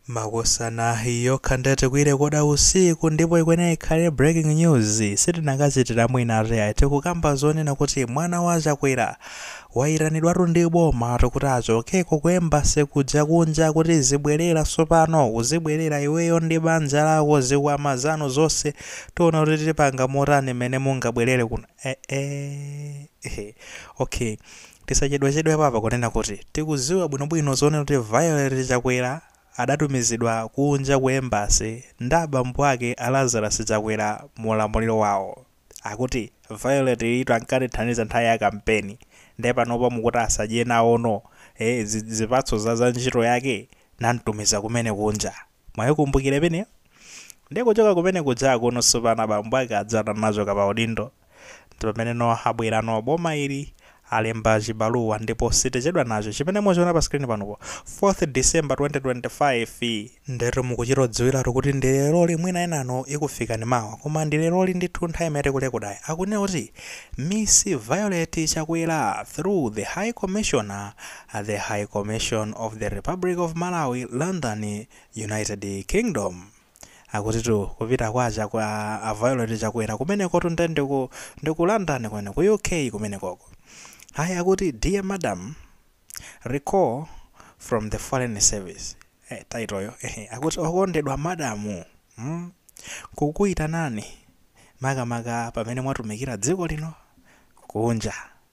Makosana iyi yokha nde tikuirekoda usiku ndipo ikwenera ikhale breaking news sitinakachitilamu inatu yayi tikukamba zonena kuti mwana wa Chakwera waitanidwatu ndi boma ati kuti achokeko ku embassy kuja kunja kuti zibwelera sopano uzibwelera iweyo ndi banja lako zikwama zanu zonse tiona kuti tipanga motani mene mungabwelere kuno eh eh okay Tisachedwachedwepo apa kunena kuti tikuziwa bwinobwino zonena kuti Violet Chakwera adatumizidwa kunja ku Embassy ndi abambo ake a Lazarus Chakwera mu ulamuliro wawo. Akuti Violet yitu ankatithandiza nthawi ya kampeni nde panopa mukuti asadye nawono zipatso za za ntchito yake? Namtumiza kumene kunja. Mwaikumbukira imeneyo? Ndiye kuchoka kumene kuja kuno tsopano abambo ake aja atachoka pa udindo. Ndi pamene no abwera no boma ili alemba chibaluwa ndipo sitichedwa nacho chimene muchiona pa screen panupo 4th December 2025 ndetu mukuchita kudziwiratu kuti ndi leroli mwina enanu ikufikani mawa koma ndi leroli ndithu nthawi imene tikulekodayi akunena kuti Miss Violet Chakwera through the High Commissioner at the High Commission of the Republic of Malawi, London, United Kingdom. Akutitu kupita kwa aja kwa a Violet Chakwera kumenekotu nde ndi ku London kwene ku UK kumenekoko. Ayi akuti dear madam recall from the foreign service. Eh, title yo. Ehe, akuti okondedwa madamu. Mm. Kukuitanani makamaka pamene mwatumikira dziko lino kunja.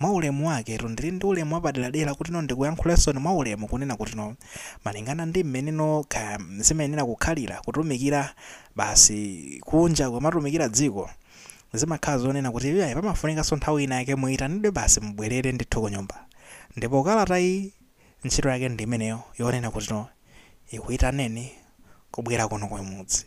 Mwa ulemu waketu, ndili ndi ulemu wapaderadera kutino ndikuyankhuleninso mwa ulemu kunena kutino malingana ndi m'meneno kaya zimayenera kukhalira kutumikira basi kunja ukamatumikira dziko zimakhala zonena kuti iyayi pamafunikanso nthawi ina yake muitanidwe basi mubwerere ndithu kunyumba ndipo kalatayi ntchito yake ndi imeneyo yonena kutino ikuitaneni kubwera kuno kumudzi.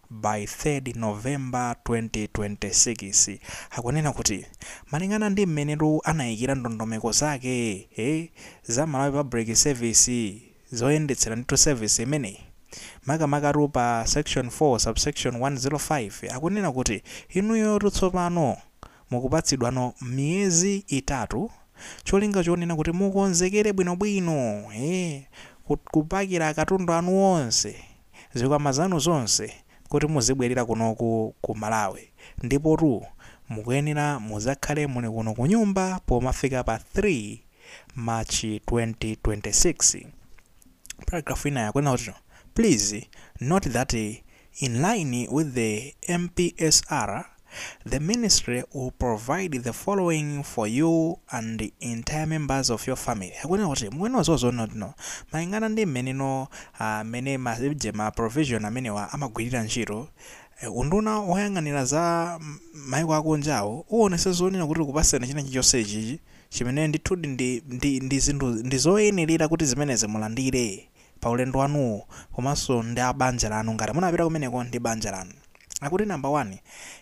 by 3rd November 2026 akunena kuti malingana ndi mmenetu anayikira ndondomeko zake ee za Malawi Public Service zoyendetsera ndithu service imeneyi makamakatu pa section 4 subsection 105 akunena kuti inuyotu tsopano mukupatsidwano miyezi itatu cholinga chonena kuti mukonzekere bwinobwino ee kupakira katundu wanu onse zikwama zanu zonse kuti muzibwelera kunoku ku Malawi ndipotu mukuyenera muzakhale muli kuno kunyumba pomafika pa 3 March 2026. Paragraph ina akunena kuti Please note that in line with the MPSR, The ministry will provide the following for you and the entire members of your family. Akunena kuti mukuyenera kudziwa zoona kuti no malingana ndi mmeneno ah, mmene ma je ma provision amenewa amagwirira ntchito eh, unduna woyang'anira za m- maiko akunjawo uonetsetsa zoona kuti ukupasirani china chilichonse ichi chimene ndithudi ndi, ndi, ndi zinthu ndi zoyenerera kuti zimenezi mulandire pa ulendo wanuwo komanso ndi a banja lanu ngati munapita kumeneko ndi banja lanu Akuti number one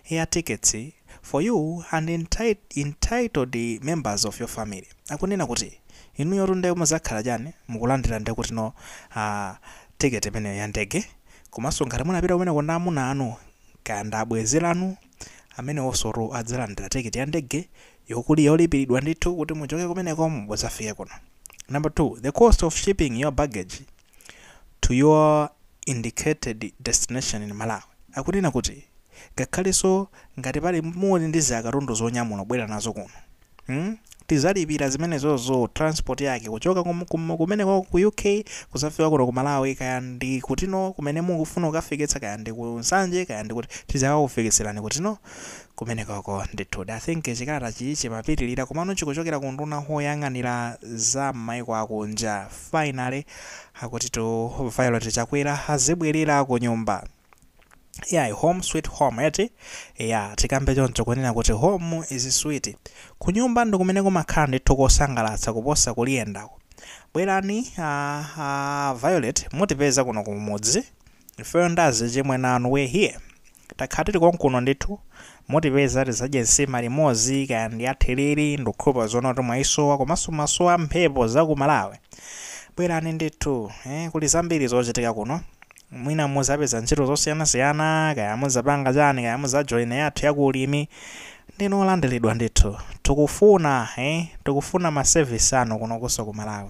air tickets for you and enti entitled members of your family. Akunena kuti inuyotu nde muzakhala chani mukulandira ndi kutino air ticket imeneyo ya ndege komanso ngati munapita kumeneko ndi amuna anu kaya ndi abwenzi lanu amenewosotu adzalandira ticket ya ndege yokuli yolipilidwa ndithu kuti muchoke kumeneko mudzafike kuno. Number two the cost of shipping your baggage. to your indicated destination in Malawi akunena kuti ngakhaleso ngati pali muli ndi ziakatundu zonyamula kubwera nazo kuno mm tizalipira zimenezozo transport yake kuchoka kum, kum, kumenekoko ku UK kuzafika kuno ku Malawi kaya ndi kutino kumene mukufuna kukafikitsa kaya ndi ku Nsanje kaya ndi kuti tizakakufikitserani kutino kumenekoko ndithudi. I think chikalatachi chimapitilira komano chikuchokera ku unduna woyang'anira za mmaiko akunja. Finally akutitu Violet Chakwera azibwerera kunyumba. Iyayi home sweet home eti? Eya tikambe choncho kunena kuti home is sweet. Kunyumba ndikumene kumakhala ndithu kosangalatsa kuposa kuliyendako. Bwerani a Violet mutipeza kuno kumudzi. Ifeyo nda azichimwene anu we're here takhala tili konkuno ndithu mutipeza tizadye nsima limozi kaya ndi ya therere ndikhulupirira zoona kuti mwayisowa komanso mwasowa mphepo za ku malawi bwerani ndithu eh kuli zambiri zochitika kuno mwina muzapeza ntchito zosiyanasiyana kaya muzapanga chani kaya muzajoyina yathu ya ku ulimi ndinu olandiridwa ndithu tikufuna eh tikufuna ma service anu kuno kuso ku malawi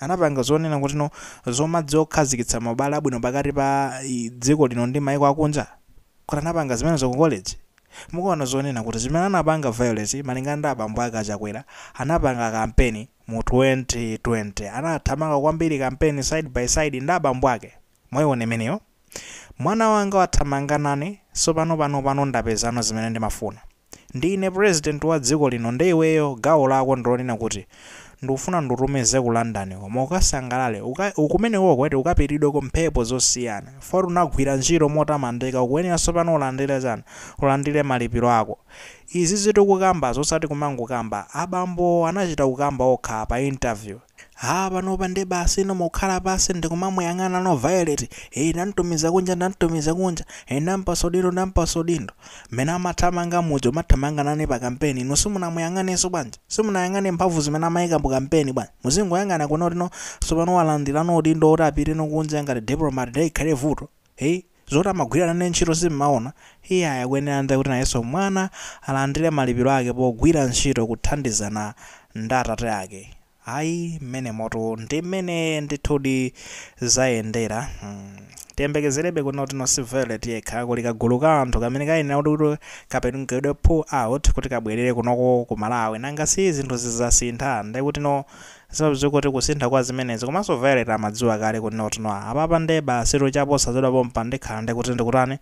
anapanga zonena kuti no zomadziwa kukhazikitsa maubale abwino pakati pa i dziko lino ndi maiko akunja kuti anapanga zimenezo ku college mukuona zonena kuti zimene anapanga Violet malingana ndi abambo ake a chakwera anapanga kampeni mu 2020 anathamanga kwambiri kampeni side by side ndi abambo ake mwaiona imeneyo Mwana wanga wathamanga nane, sopano pano pano ndapezano zimene ndimafuna. Ndi ine president wa dziko lino nde iweyo gawo lako ndilonena kuti ndufuna ndutumize ku London koma ukasangalale uka kumenekoko eti ukapitidweko mphepo zosiyana for unagwira ntchito motamandika ukuyenera sopano ulandire chani ulandire malipiro ako izi tikukambazi osati kumangokamba abambowo anachita kukamba okha pa interview Aaa panopa nde basi no mukhala pasi ndikumamuyang'ana no violet ee ndamtumiza kunja ndamtumiza kunja ee ndampasa udindo ndampasa udindo mmene amathamanga muja amathamanga nane pa kampeni inu simunamuyang'anenso bwanji simunayang'ane mphamvu zimene amayika mu kampeni bwanji muzingoyang'ana kuno tino tsopano walandira no udindo woti apite no kunja ngati diplomat nde ikhale vuto ee Zoti amagwira nane ntchito simmaona? Iyayi akuyenera nde kuti nayenso mwana alandire malipiro ake pogwira ntchito kuthandizana nd atate ake. Ayi mmenemotu ndi mmene ndithudi zayendera hmm tiyembekezerebe kuno tino si Violet yekha kuli kagulu ka anthu kamene kayenera kuti kapangidwe pull out kuti kabwerere kunoko ku Malawi nanga si zinthu zizasintha ndekutino Simadziwa kuti kusintha kwa zimenezi komanso Violet amadziwa kale kuti no tino apapa nde basi cha posachedwa pompa akhala ndi kuti ndikutani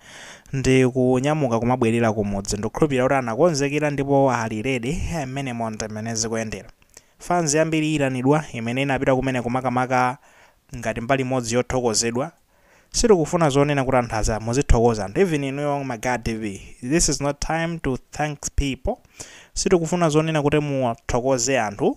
ndikunyamuka kumabwelera kumudzi ndikukhulupilira kuti anakonzekera ndipo ali ready mmenemo nd mmene zikuyendera fans yambiri iyitanidwa imene inapita kumeneko makamaka ngati mbali imodzi yothokozedwa sitikufuna zonena kuti anthu aza muzithokoza anthu even inuyo ma guy tv this is not time to thank people sitikufuna zonena kuti muthokoze anthu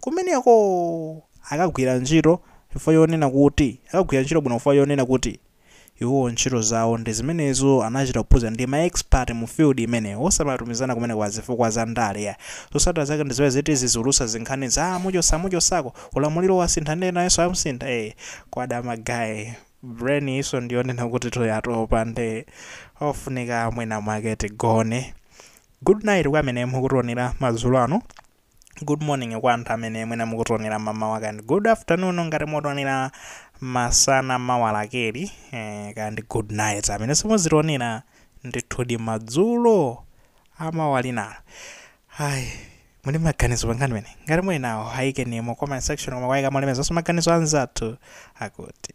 kumeneko! Akagwira ntchito chifukwa chonena kuti, akagwira ntchito bwino chifukwa chonena kuti, iwo ntchito zawo ndi zimenezo, anachita kuphunzira ndi ma expert mu field imeneyo, osamatumizana kumeneko pa zifukwa za ndale. Zotsatira zake ndi zimene ziti zizitulutsa zinkhani za amuchosa amuchosako, ulamuliro wasintha ndiye nayenso amusintha, kwada ma guy, brain iyinso ndi yonena kutitu yatopa nde ofunika mwina mwake tigone. Good night kwa amene mukutionera madzulo ano. good morning kwa anthu amene mwina mukutionera mamawa kandi good afternoon ngati mukutionera masana mawa lakeli eh, kandi good night amene simuzitionera ndithudi madzulo amawa linalo ayi muli maganizo pa nkhani imene ngati muli nawo ayikeni mu comment section koma kwayika molemekezaso maganizo anzathu akuti